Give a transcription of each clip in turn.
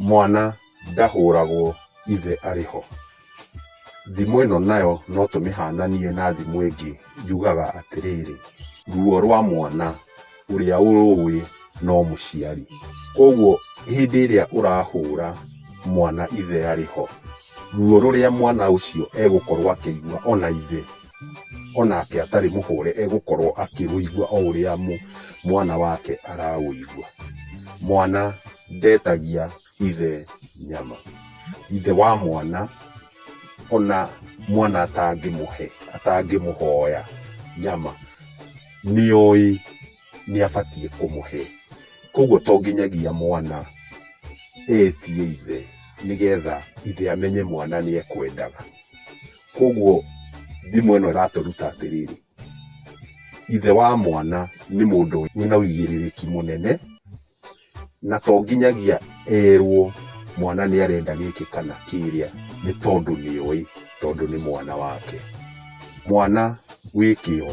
Mwana ndahũragwo ithe arĩ ho. Thimo ĩno nayo no tũmĩhananie na thimo ĩngĩ yugaga atĩrĩrĩ, ruo rwa mwana ũrĩa ũrũĩ no mũciari. Koguo hĩndĩ ĩrĩa ũrahũra mwana ithe arĩ ho, ruo rũrĩa mwana ũcio egũkorwo akĩigua ona ithe onake atarĩ mũhũre egũkorwo akĩũigua o ũrĩa mwana wake araũigua. Mwana ndetagia ithe nyama. Ithe wa mwana ona mwana atangĩmũhe, atangĩmũhoya nyama nĩoĩ. nĩ abatiĩ kũmũhe. Koguo to nginyagia mwana etie ithe nĩgetha ithe amenye mwana nĩ ekwendaga. Koguo thimũ ĩno ĩratũruta atĩrĩrĩ, ithe wa mwana nĩ mũndũ wĩna ũigĩrĩrĩki mũnene na to nginyagia erwo mwana nĩ arenda gĩkĩ kana kĩrĩa, nĩ tondũ nĩ oĩ tondũ nĩ mwana wake. Mwana wĩ kĩo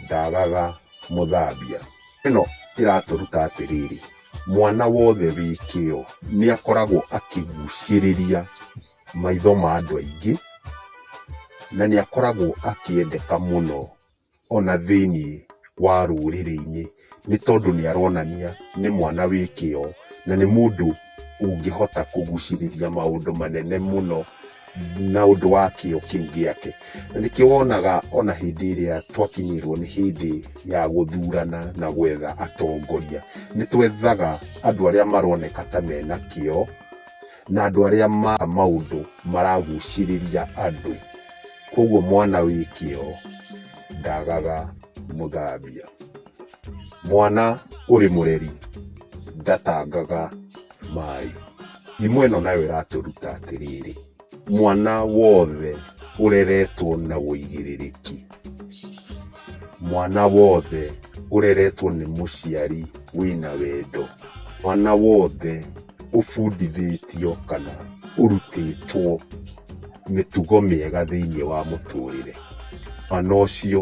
ndagaga mũthambia. Ĩno ĩratũruta atĩrĩrĩ, mwana wothe wĩ kĩo nĩ akoragwo akĩgucĩrĩria maitho ma andũ aingĩ na nĩ akoragwo akĩendeka mũno. ona thĩinĩ wa rũrĩrĩ-inĩ nĩ tondũ nĩ aronania nĩ mwana wĩ kĩo na nĩ mũndũ ũngĩhota kũgucĩrĩria maũndũ manene mũno na ũndũ wa kĩo kĩu gĩake. Na nĩkĩo wonaga ona hĩndĩ ĩrĩa twakinyĩrwo nĩ hĩndĩ ya gũthurana na gwetha atongoria, nĩ twethaga andũ arĩa maroneka ta mena kĩo, na andũ arĩa ma maũndũ maragucĩrĩria andũ koguo mwana wĩ kĩo ndagaga mũthambia mwana ũrĩ mũreri ndatangaga maĩ imwe ĩno nayo ĩratũruta atĩrĩrĩ mwana wothe ũreretwo na ũigĩrĩrĩki Mwana wothe ũreretwo nĩ mũciari wĩna wendo. Mwana wothe ũbundithĩtio kana ũrutĩtwo mĩtugo mĩega thĩiniĩ wa mũtũrĩre, mwana ũcio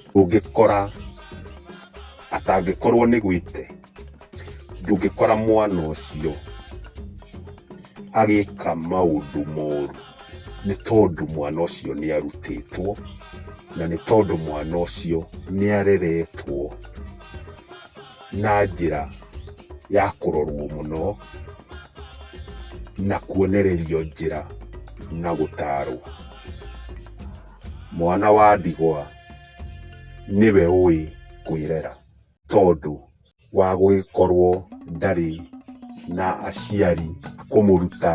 ndũngĩkora atangĩkorwo nĩ gwĩte. ndũngĩkora mwana ũcio agĩka maũndũ moru nĩ tondũ mwana ũcio nĩ arutĩtwo na nĩ tondũ mwana ũcio nĩ areretwo na njĩra ya kũrorwo mũno na kuonererio njĩra na gũtarwo. Mwana wa ndigwa nĩwe ũĩ kwĩrera. tondũ wa gũgĩkorwo ndarĩ na aciari a kũmũruta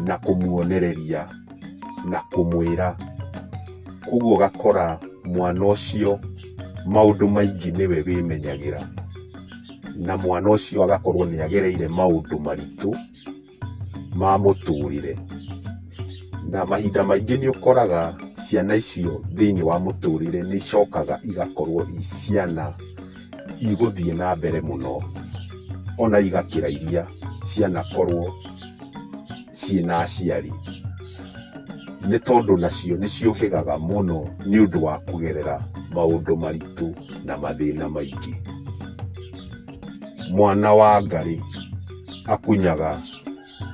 na kũmuonereria na kũmwĩra. Ũguo ũgakora mwana ũcio maũndũ maingĩ nĩwe wĩmenyagĩra, na mwana ũcio agakorwo nĩagereire maũndũ maritũ. ma mũtũrĩre. Na mahinda maingĩ nĩ ũkoraga ciana icio thĩiniĩ wa mũtũrĩre nĩ icokaga igakorwo i ciana igũthiĩ na mbere mũno, ona igakĩra iria cianakorwo ciĩna aciari. Nĩ tondũ nacio nĩ ciũhĩgaga mũno nĩ ũndũ wa kũgerera maũndũ maritũ na mathĩna maingĩ. Mwana wa ngarĩ. akunyaga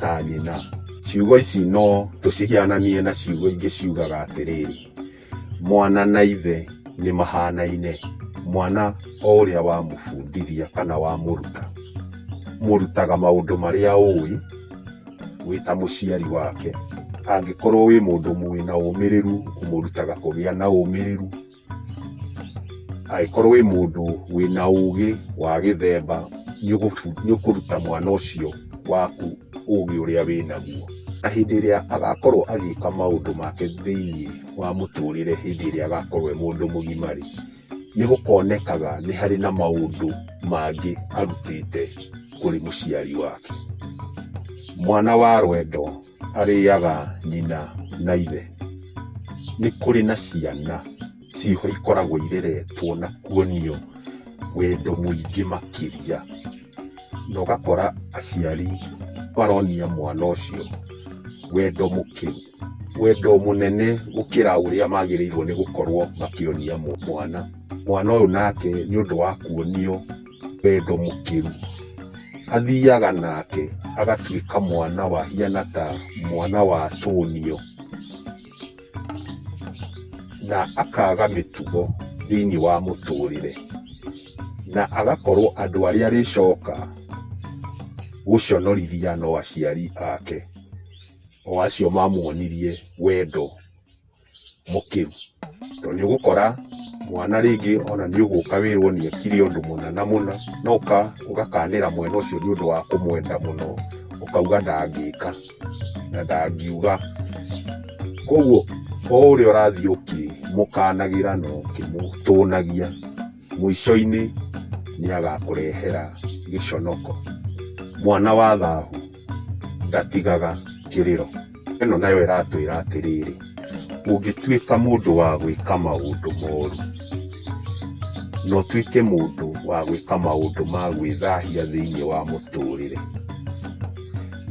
ta nyina. Ciugo ici no tũcihiananie na ciugo ingĩ ciugaga atĩrĩrĩ, mwana na ithe nĩ mahanaine, mwana o ũrĩa wamũbundithia kana wamũruta, ũmũrutaga maũndũ marĩa ũĩ wĩ ta mũciari wake. Angĩkorwo wĩ mũndũ wĩna ũmĩrĩru ũmũrutaga kũgĩa na ũmĩrĩru. Angĩkorwo wĩ mũndũ wĩna ũgĩ wa gĩthemba nĩũkũruta mwana ũcio waku ũgĩ ũrĩa wĩnaguo. Na hĩndĩ ĩrĩa agakorwo agĩka maũndũ make thĩiniĩ wa mũtũrĩre hĩndĩ ĩrĩa agakorwo e mũndũ mũgima rĩ, nĩgũkonekaga nĩ harĩ na maũndũ mangĩ arutĩte kũrĩ mũciari wake. Mwana wa rwendo. arĩaga nyina na ithe. Nĩ kũrĩ na ciana ciĩho ikoragwo ireretwo na kuonio wendo mũingĩ makĩria, na ũgakora aciari maronia mwana ũcio wendo mũkĩru, wendo mũnene gũkĩra ũrĩa magĩrĩirwo nĩ gũkorwo makĩonia mwana. Mwana ũyũ nake nĩ ũndũ wa kuonio... wendo mũkĩru athiaga nake agatuĩka mwana wa hiana ta mwana wa tonio na akaga mĩtugo thĩinĩ wa mũtũrĩre na agakorwo andũ arĩa arĩcoka gũconorithia no aciari ake o acio mamuonirie wendo mũkĩru. Tondũ nĩ ũgũkora mwana rĩngĩ ona nĩ ũgũka wĩrwo nĩ ekire ũndũ mũna na mũna, no ũgakanĩra mwena ũcio nĩ ũndũ wa kũmwenda mũno, ũkauga ndangĩka na ndangiuga. Koguo o ũrĩa ũrathiĩ ũkĩmũkanagĩra na ũkĩmũtũnagia, mũico-inĩ nĩ agakũrehera gĩconoko. Mwana wa thahu. ndatigaga kĩrĩro. Ĩno nayo ĩratwĩra atĩrĩrĩ, ũngĩtuĩka mũndũ wa gwĩka maũndũ moru, na ũtuĩke mũndũ wa gwĩka maũndũ ma gwĩthahia thĩiniĩ wa mũtũrĩre,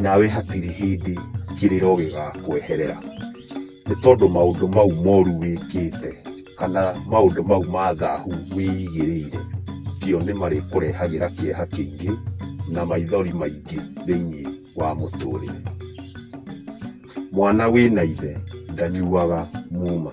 nawe hatirĩ hĩndĩ kĩrĩro gĩgakweherera, nĩ tondũ maũndũ mau moru wĩkĩte. kana maũndũ mau ma thahu wĩigĩrĩire, macio nĩ marĩkũrehagĩra kĩeha kĩingĩ na maithori maingĩ thĩinĩ wa mũtũrĩre. Mwana wĩna ithe ndanyuaga muma.